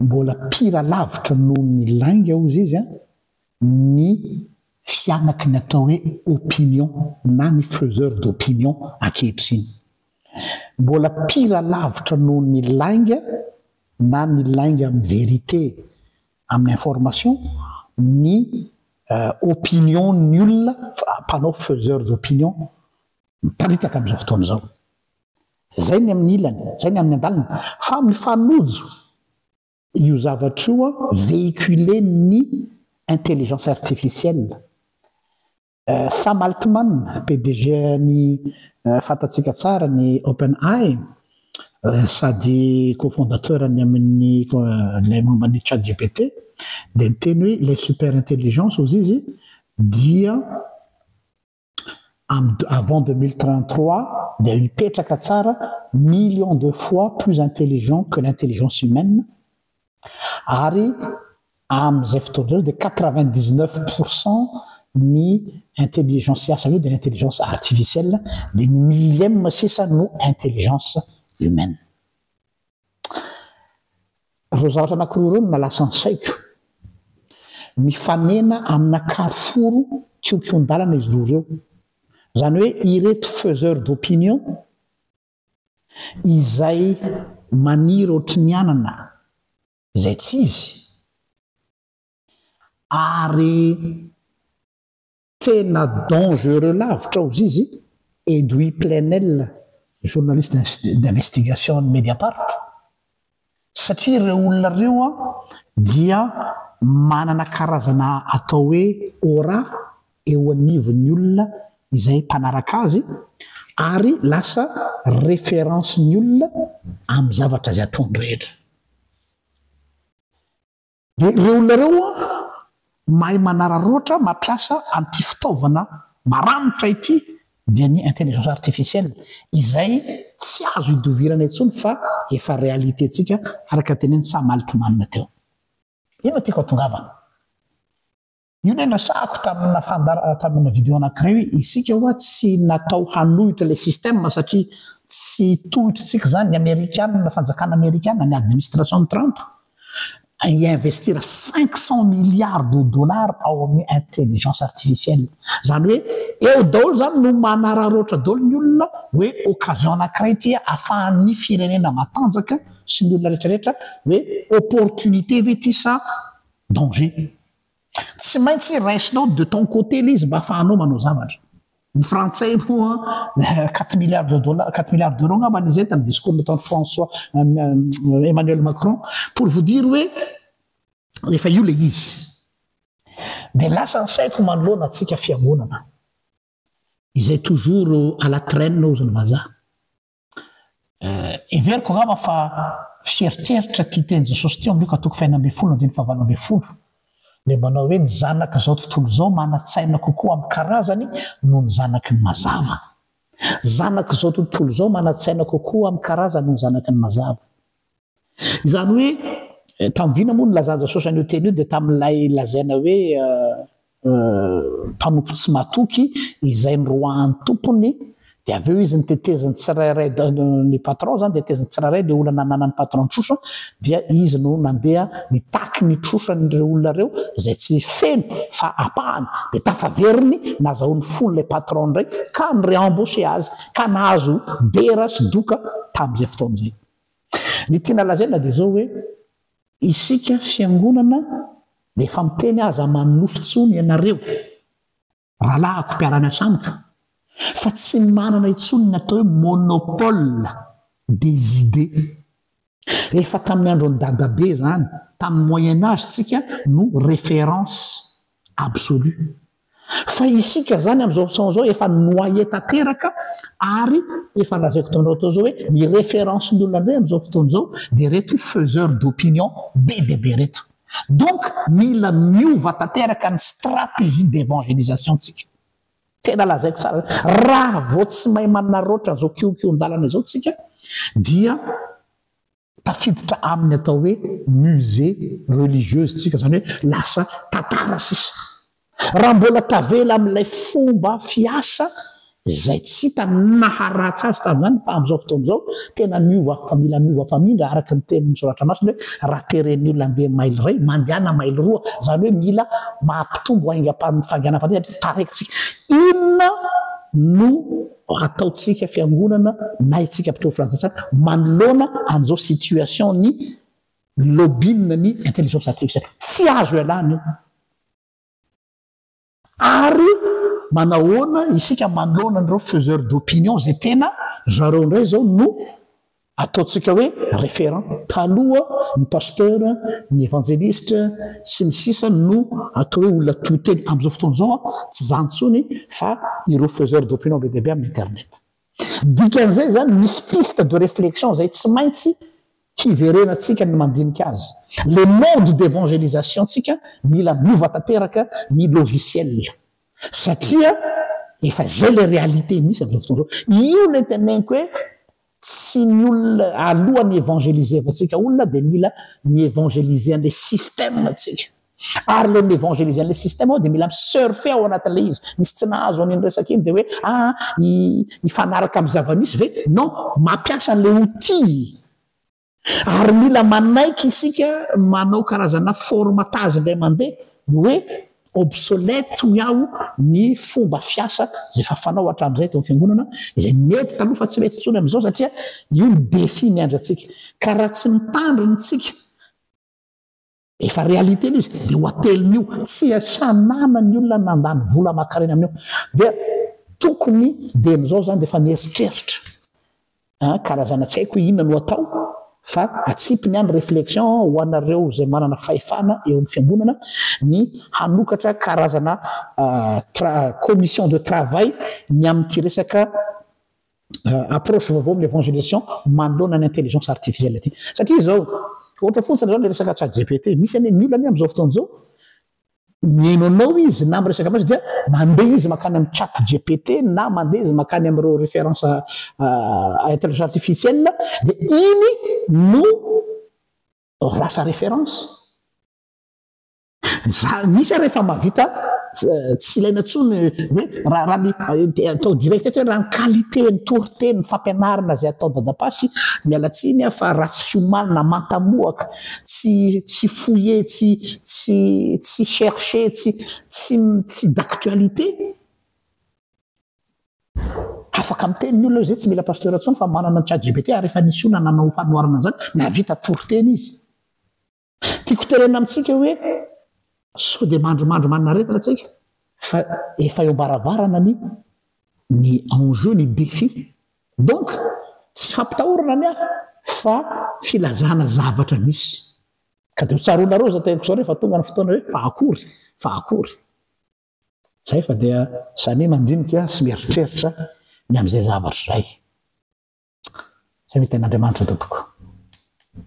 Mbola pire lavitra noho ny lainga hozy izy an, ny fianaky ny atao hoe opinion na ny faiseur d'opinion ankehitriny. Mbola pire lavitra noho ny lainga na ny lainga amin'ny vérité, amin'ny information, ny opinion ny olona mpanao faiseur d'opinion Miparitaka amin'izao fotoana izao. Izay ny amin'ny ilany, izay ny amin'ny andaliny. Fa mifanojo io zavatra io véhiculen'ny intelligence artificielle. Sam Altman, PDG-n'ny fantatsika tsara ny OpenAI, sady co-fondateur-ny amin'ny ilay momba ny ChatGPT, dia niteny hoe ilay super intelligence, hozy izy, dia Amin'ny avant 2033 dia hipetraka tsara millions de fois plus intelligent que l'intelligence humaine ary amin'izay fotoana izay dia 99 pourcent ny intelligence hiasa avy eo dia intelligence artificielle dia ny millième sisa no intelligence humaine. Ireo zavatra anankiroa ireo no nalasan' ny saiko. Mifanena amina karoforo kiokion-dalana izy roa ireo. Izany hoe ireto faiseurs d'opinion izay maniry ohatry ny anana izay tsy izy ary Tena dangereux lavitra ao zizy Edoui Plenel journaliste d'investigation an'ny Mediapart satria ireo olona ireo dia manana karazana atao hoe aura eo anivon'ny olona izay mpanaraka azy ary lasa référence ny olona amin'ny zavatra izay ataony rehetra. Dia ireo olona ireo mahay manararaotra mampiasa an'ity fitaovana maranitra ity dia ny intelligence artificielle izay tsy azo idovirana intsony fa efa réalité-ntsika araka ny tenenin'i Sam Altman teo. Inona tiako hatongavana? Io ilay nasahako tamina fandar tamina video anankiray hoe isika ho'a tsy natao hanohitra ilay système satria tsy tohitr'tsika izany, ny amerikana, fanjakana amerikana, ny administration Trump hi-investir cinq cent milliards de dollars ao amin'ny intelligence artificielle. Izany hoe eo daholo izany no manararaotra daholo ny olona hoe occasion anankiray ity ahafahan'ny firenena matanjaka sy ny olona rehetra rehetra hoe opportunité ve ity sa danger. Tsy maintsy raisinao de ton côté le izy mba afahanao manao zavatra. Ny frantsay moa quatre milliards de dollars, quatre milliards d'euros angamba nizay tamin'ny discours nataon'i François Emmanuel Macron pour vous dire hoe efa io le izy. De lasa ny saiko manoloana antsika fiangonana izay toujours à la traîne hozy ny vazaha. Heveriko angamba fa fiheritreritra tia teny Jesosy teo amin'ny Lioka toko fahenina ambin'ny folo andininy fahavalo ambin'ny folo ilay manao hoe ny zanak'izao tontolo izao manan-tsaina kokoa amin'ny karazany noho ny zanaky ny mazava. Zanak'izao tontolo izao manan-tsaina kokoa amin'ny karazany noho ny zanaky ny mazava. Izany hoe tamin'ny vina moa ny lazanjasosany io teny io dia tamin'ilay lazaina hoe mpanompo tsy matoky izay ny roahan'ny tompony dia avy eo izy ny teteziny tsirairay ny patron izany dia teteziny tsirairay dia olana nanan'ny patron ny trosa dia izy no nandeha nitaky ny trosan'ireo olona ireo izay tsy feno fa apahany dia tafaveriny nazahoan'ny fon'ilay patron indray ka ny réembauché azy ka nahazo dera sy doka tamin'izay fotoana izay Ny tiana lazaina dia izao hoe, isika fiangonana dia efa miteny aza manonofy intsony ianareo rahalahiko mpiara-miasa amiko fa tsy manana intsony ny atao hoe monopole des idées. Efa tamin'ny andron'i dadabe izany, tamin'ny moyen age tsika no référence absolue. Fa isika izany amin'izao fotoana izao efa noyé tanteraka ary efa lazaiko taminareo teo izao hoe ny référence ny olona indray amin'izao fotoana izao dia ireto faiseurs d'opinion be dia be ireto. Donc mila miova tanteraka ny stratégie d'évangélisation tsika. Tena lazaiko tsara hoe raha vao tsy mahay manarraotra izao kihokihon-dalana izao tsika dia. Tafiditra amin'ny atao hoe musée religieuse isika, izany hoe lasa tantara sisa. Raha mbola tavela amin'ilay fomba fiasa izay tsy hita ny naharatsy azy tamin'izany fa amin'izao fotoana izao tena miova fa mila miova famindra araka ny tenin'ny soratra masina hoe raha teren'ny olona handeha mailo iray, mandehana mailo roa, izany hoe mila maha-mpitombo aingam-pandehanam-pandeha satria taraintsika. Inona no. Fa ataontsika fiangonana na itsika mpitory filazantsara manoloana an'izao situation ny lobby'na ny intelligence artificielle. Tsy azo ialana io. Ary manahoana isika manoloana an'ireo faiseurs d'opinion izay tena zareo indray izao no Ataontsika hoe référent taloha ny pasteur, ny évangéliste sy ny sisa no atao hoe olona to teny. Amin'izao fotoana izao tsy izany intsony fa ireo faiseurs d'opinion be dia be amin'ny internet. Dikan'izay izany misy piste de réflexion izay tsy maintsy hiverenantsika ny mandinika azy. Le mode d'évangélisation-tsika mila miova tanteraka ny logiciel satria efa izay le réalité misy amin'izao fotoana izao. Io le teneniko hoe. tsy ny olona aloha ny evangelisevantsika olona dia mila mi evangeliser an'le système antsika ary le mi evangeliser an'le système ao dia mila mi surfer ao anatin'le izy misy tsy nahazo an'iny resaka iny dia hoe aa ah, hifanaraka amin'ny zava-misy ve non mampiasa an'le outil Ary mila manaiky isika manao karazana formatage indray mandeha ny hoe obsolète hoy aho ny fomba fiasa izay efa fanao hatramin'izay teo amin'ny fiangonana, izay nety taloha fa tsy mety intsony amin'izao satria io ny défi miandry antsika. Ka raha tsy mitandrina isika, Efa réalité ilay izy, io hatelina io, tsy hanana ny olona nandany vola aman-karena amin'io. Dia tokony dia amin'izao izany dia efa mieritreritra an, karazana tsy haiko hoe inona no atao fa atsipy ny an réflexion ho anareo izay manana fahefana eo amin'ny fiangonana ny hanokatra karazana commission de travail ny amin'ity resaka euh, approche vaovao amin'ny évangélisation manoloana ny intelligence artificielle ity satria izao ohatra fotsiny zao le resaka chat gpt misy anie ny olona anie am'izao fotoana izao mihaino anao izy na miresaka amin'izy dia mandeha izy makany amin'ny chat gpt na mandeha izy makany amin'ireo référence euh, intelligence artificielle dia iny no rasa référence Za misy ary efa mahavita tsy ilaina intsony hoe raha raha ny atao direct eto hoe raha ny qualité ny toriteny ny fampianarana izay atao dadapà sy miala tsiny aho fa ratsy fiomanana manta-mohaka tsy tsy fouiller tsy tsy tsy chercher tsy tsy tsy d'actualité afaka miteny ny olona izay tsy mila pasteur intsony fa manana ny chat gpt ary efa nisy olona nanao fanoharana an'izany nahavita toriteny izy Tiako tenenina amintsika hoe sao dia mandrimandry maninaretina tsika fa efa eo ambaravarana ny ny enjeu ny défi donc tsy fampitahorana ny ahy fa filazana zavatra misy ka de ho tsaroanareo za teniko zao rehefa tonga ny fotoana hoe fa akory fa akory zay fa dia samia mandinika sy mieritreritra ny am'izay zavatra zay samia tena andriamanitra tompoko